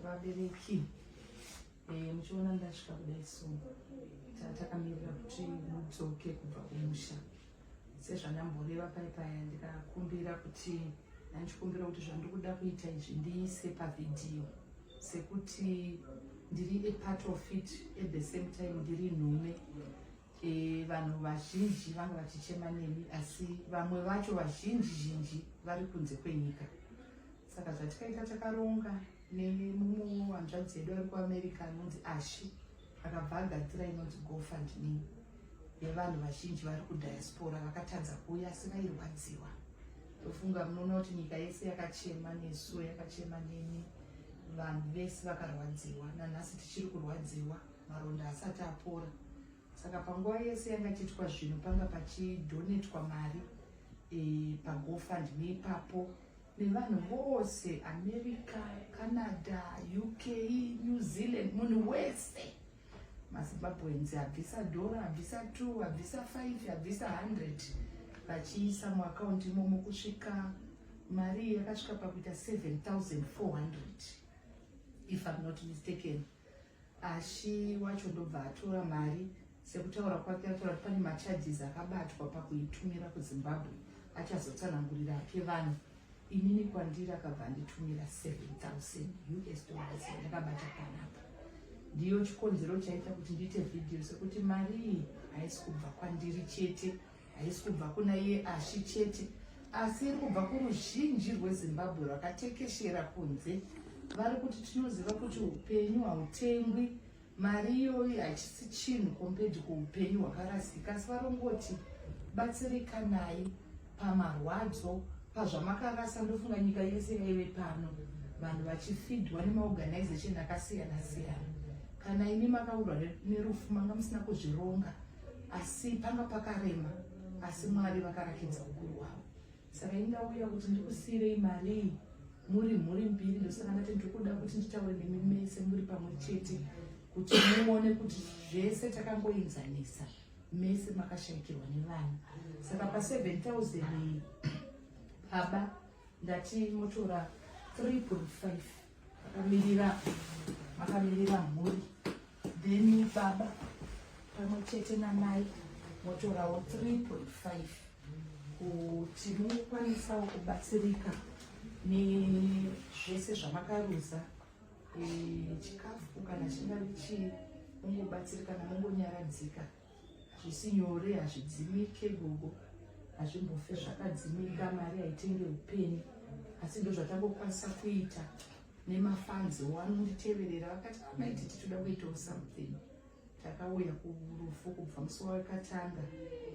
vabereki eh, muchiona ndasvika kudai so takamirira kuti mudzoke kubva kumusha sezvandamboreva pai paya ndikakumbira kuti ndandichikumbira kuti zvandikuda kuita izvi ndiise pavhidhiyo sekuti ndiri apart of it at the same time ndiri nhume E, vanhu vazhinji vanga vachichema nemi asi vamwe vacho vazhinji zhinji vari kunze kwenyika saka zvatikaita takaronga nemumwe wanzvadzi yedu ari kuamerica anonzi ashi akabva agadzira inonzi gofund me yevanhu vazhinji vari kudiaspora vakatadza kuuya asi vairwadziwa tofunga munoona kuti nyika yese yakachema nesu yakachema nemi vanhu vese vakarwadziwa nanhasi tichiri kurwadziwa maronda haasati apora saka panguva yese yanga tiitwa zvinhu panga pachidhonetwa mari e, pagofund neipapo nevanhu vose america canada uk new zealand munhu wese mazimbabweans abvisa dhora abvisa two abvisa five abvisa hundred vachiisa muakaunti imomo kusvika mari yakasvika pakuita 7400 if i'm not mistaken Ashi wacho ndobva atora mari sekutaura kwake ataura kuti pane macharges akabatwa pakuitumira kuzimbabwe achazotsanangurira api vanhu inini kwandiri akabva anditumira 7000 us dollars ndakabata panapa ndiyo chikonzero chaita kuti ndiite vhidhiyo sekuti mari iyi haisi kubva kwandiri chete haisi kubva kuna iye ashi chete asi iri kubva kuruzhinji rwezimbabwe rwakatekeshera kunze vari kuti tinoziva kuti upenyu hautengwi mari iyoyi hachisi chinhu compared kuupenyu hwakarasika asi varongoti batsirikanai pamarwadzo pazvamakarasa ndofunga nyika yese yaive pano vanhu vachifidwa nemaorganization akasiyana siyana kana imi makaurwa nerufu manga musina kuzvironga asi panga pakarema asi mwari vakarakidza ukuru hwavo saka ini ndauya kuti ndikusiirei marii muri mhuri mbiri ndosaka ndati ndikuda kuti nditaure nemi mese muri pamwe chete kuti muone kuti zvese takangoenzanisa mese makashayikirwa nevana saka pa 7000 baba ndati motora 3.5 vakamirira vakamirira mhuri then baba pamwe chete namai motorawo 3.5 kuti mukwanisawo kubatsirika nezvese zvamakaruza e, chikafu kana chingave chii mungobatsirika namungonyaradzika Zvisinyore hazvidzimike gogo hazvimbofe zvakadzimika mari haitenge upenyu asi ndozvatangokwanisa kuita nemafanzi wanonditeverera vakati amaiti titoda kuitawo something takauya kurufu kubva musi wakatanga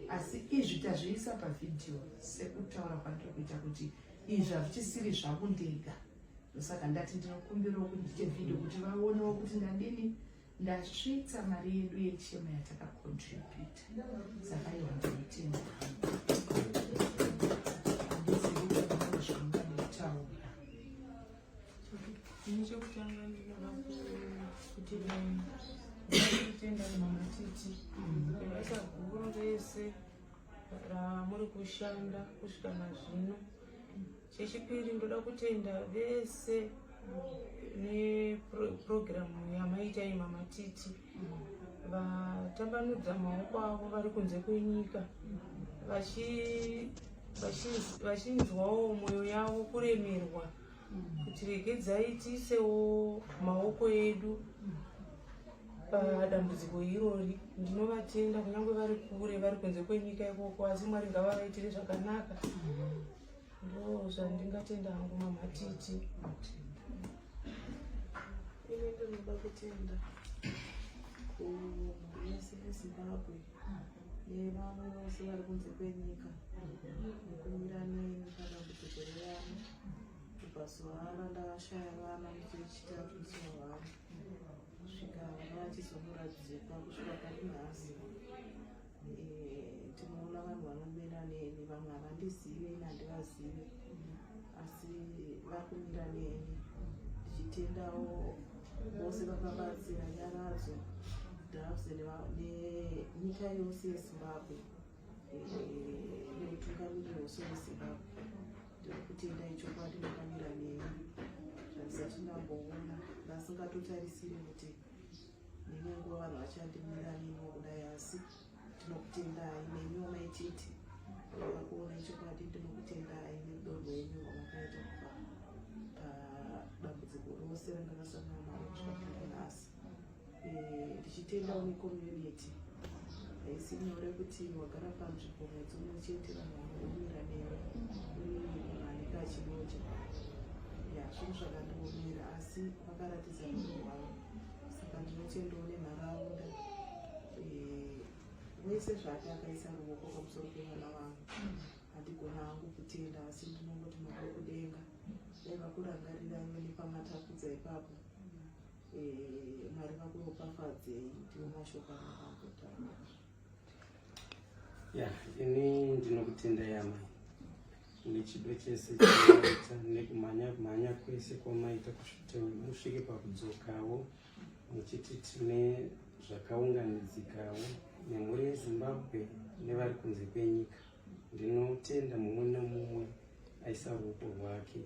asi izvi tazviisa pavhidhiyo sekutaura kwandiri kuita kuti izvi hazvichisiri zvaku ndega ndosaka ndati ndinokumbirawo kuti ndiite vhidhiyo kuti vaonewo kuti ndadini Ndasvitsa mari yedu yechema yatakacontributa saka iwa ndinotenga ini chekutanga ndinoda kuti kutenda mama titi basa guru rese ramuri kushanda kusvika nazvino Chechipiri ndoda kutenda vese nepurogiramu yamaita iyi mamatiti vatambanudza maoko avo vari kunze kwenyika vachinzwawo mwoyo yavo kuremerwa kuti regedzai tiisewo maoko edu padambudziko irori ndinovatenda kunyange vari kure vari kunze kwenyika ikoko asi mwari ngavavaitire zvakanaka Ndoo zvandingatenda hangu mama Titi. Ini ndinoda kutenda kuhurumende yeZimbabwe nevamwe vose vari kunze kwenyika nekumira neni padambudziko revana kubva zuva rana ndavashaya vana ndichichita kusiwa vana kusvika vana vachizomuradzikwa kusvika pari nhasi tinoona vanhu vanomira neni vamwe havandizive ini handivazive asi vakumira neni ndichitendawo vose vakabatsira nyaradzo drafs nenyika yose yezimbabwe neutungamiriro wose wezimbabwe ndiri kutenda ichokwadi vakamira neni zvandisati ndamboona vasingatotarisiri kuti Ndine nguva vanhu vachandimira nino kudai asi tinokutendai nemi wamaititi vava kuona ichokwadi ndinokutendai nerudo rwenyu rwamakaita kubva padambudziko rose randakasangana naro kusvika kudai nhasi eh, ndichitendawo necommunity haisi nyore kuti wagara panzvimbo mwedzi umwe chete vanhu vanoomera newe uneaneka achinoja ya zvinhu zvakandiomera asi vakaratidza rudo rwavo saka ndinotendawo nenharaunda eh, wese zvake akaisa ruoko pamusoro pevana vangu handigona hangu kutenda asi ndinongoti mabva kudenga dai vakurangarira iwe nepamatapudza ipapo eh, mwari vakuropafadzei ndiwo mashoko anaakutaa ya ini ndinokutenda yama nechido chese chinoita nekumhanya mhanya kwese kwamaita kusvika musvike pakudzokawo muchiti tine zvakaunganidzikawo nemhuri yezimbabwe nevari kunze kwenyika ndinotenda mumwe nemumwe aisa ruoko rwake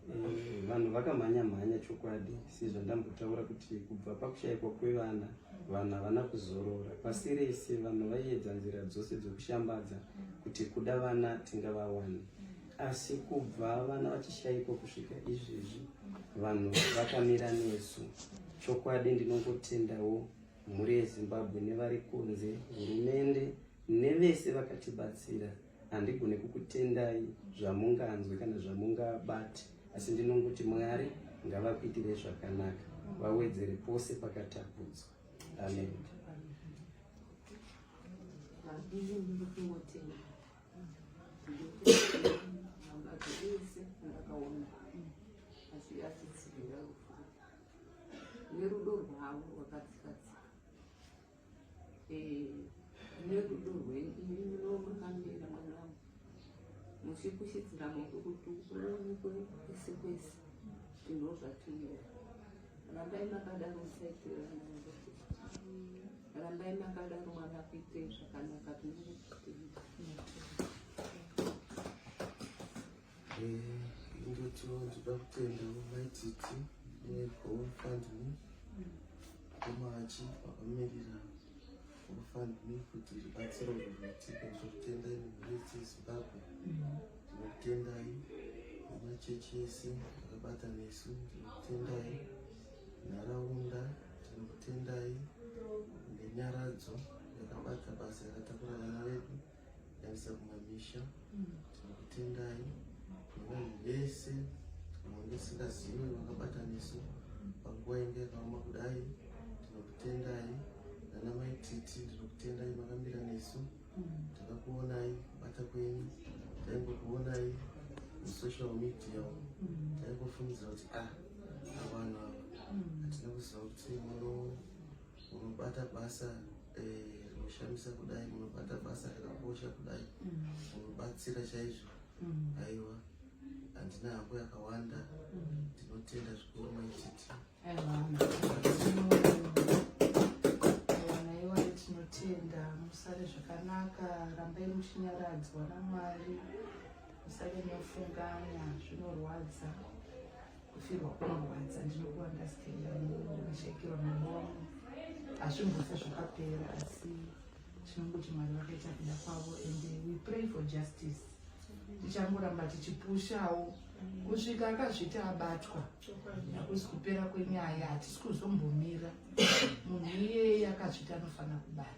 eh, vanhu vakamhanya mhanya chokwadi sezvandambotaura kuti kubva pakushaikwa kwevana vanhu havana kuzorora pasi rese vanhu vaiedza nzira dzose dzekushambadza kuti kuda vana tingavawane asi kubva vana vachishaikwa kusvika izvezvi vanhu vakamira nesu chokwadi ndinongotendawo mhuri yezimbabwe nevari kunze hurumende nevese vakatibatsira handigone kukutendai zvamunganzwe kana zvamungabati asi ndinongoti mwari ngavakuitire zvakanaka vawedzere pose pakatapudzwa amen Thank you. nerudo rwavo rwakadzikatsika eh, nerudo rwenyu imi munomakamira mwanangu muchikushidzira moto kuti uonekwe kwese kwese zvinhu zvatinova rambai makadaro musaitira rambai makadaro mwana kuite zvakanaka tinenge kuti Ndotyo ndida kutenda maititi neGoFundMe komachi vakamirira GoFundMe kuti ribatsiro rinoitika ndokutendai nemurisi Zimbabwe ndinokutendai nemachechi ese akabata nesu ndinokutendai nharaunda ndinokutendai nenyaradzo yakabata basa yakatakura vana vedu Yavisa kumamisha tinokutendai nevanhu vese vanenge singazive vakabataniso panguva inge yakaoma kudai tinokutendai nana mai titi ndinokutendai makamira nesu takakuonai kubata kwenyu taingokuonai musocial media taingofungidzira kuti ah avanhu ava hatina kuziva kuti muno Unobata basa eh, rinoshamisa eh, kudai, unobata basa rakakosha kudai, mm. unobatsira chaizvo. Mm. Aiwa, handina hako yakawanda, mm. ndinotenda zvikuru maititi. tinotenda musare zvakanaka rambai muchinyaradzwa namwari musare mofunganya zvinorwadza kufirwa kunorwadza ndinokuandastenda ndinashekirwa mambo wangu hazvimbosa zvakapera asi tinongoti mwari vakaita kuda kwavo and we pray for justice tichangoramba tichipushawo kusvika akazviti abatwa hakusi kupera kwenyaya hatisi kuzombomira munhu iyeye akazviti anofanira kubatwa